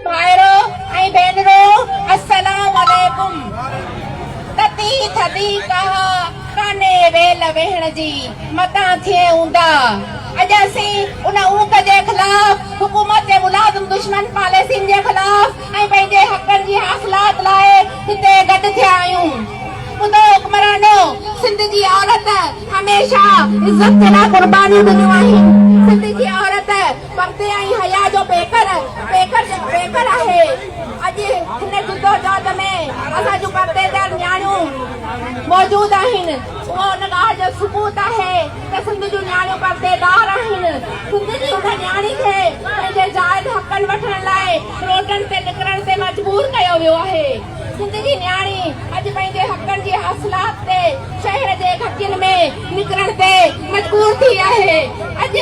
ڀائرو ۽ ڀينرو السلام عليڪم تتي ٿڌي ڪاهه ڪانهي ويل ويهڻ جي متان ٿئي اوندا اڄ اسين ان اونڪ جي خلاف حڪومت جي ملازم دشمن پاليسين جي خلاف ۽ پنهنجي حقن جي حاصلات لاء هتي گڏ ٿيا آهيون ٻڌو حڪمرانو سنڌ جي عورت هميشه عزت جي لاء قربانيون ڏنيون آهن سنڌ جي عورت پردي ۽ حيا جو پيڪر پيڪر آهي اڄ هن جدوجهد ۾ اسان جون پردي دار نياڻيون موجود آهن اهو ان ڳالهه جو ثبوت آهي ته سنڌ جون نياڻيون پردي دار آهن سنڌ جي هن نياڻي کي پنهنجي جائز حقن وٺڻ لاء روڊن تي نڪرڻ تي مجبور ڪيو ويو آهي سنڌ جي نياڻي اڄ پنهنجي حقن جي حاصلات تي شهر جي گهٽين ۾ نڪرڻ تي مجبور ٿي آهي اڄ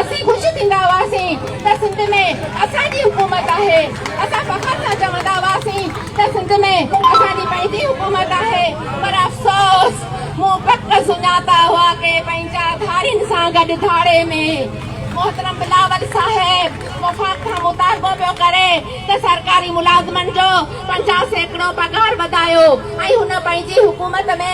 اسين خوش ٿيندا هئاسين ته سنڌ ۾ اسان جي حڪومت آهي، اسان فخر سان چوندا هئاسين ته سنڌ ۾ اسان جي پنهنجي حڪومت آهي پر افسوس مون پڪ سڃاتا هئا ڪي پنهنجا ڌارين سان گڏ ڌاڙي ۾ محترم بلاول صاحب وفاق کان مطالبو پيو ڪري ته سرڪاري ملازمن جو پنجاهه سيڪڙو پگهار وڌايو ۽ هن پنهنجي حڪومت ۾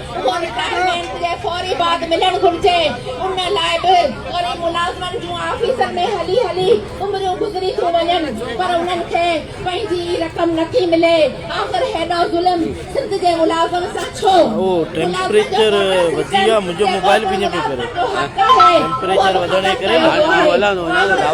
اهو رٽائرمينٽ جي فوري بعد ملڻ گهرجي ان لاء به وري ملازمن جون آفيسن ۾ هلي هلي عمريون گذري ٿيون وڃن پر انهن کي پنهنجي ئي رقم نٿي ملي آخر هيڏو ظلم سنڌ جي ملازم سان ڇو؟ ملازم جو بونس رٽن جيڪو سندن ملازمن جو حق آهي اهو به ختم ڪيو ويو آهي.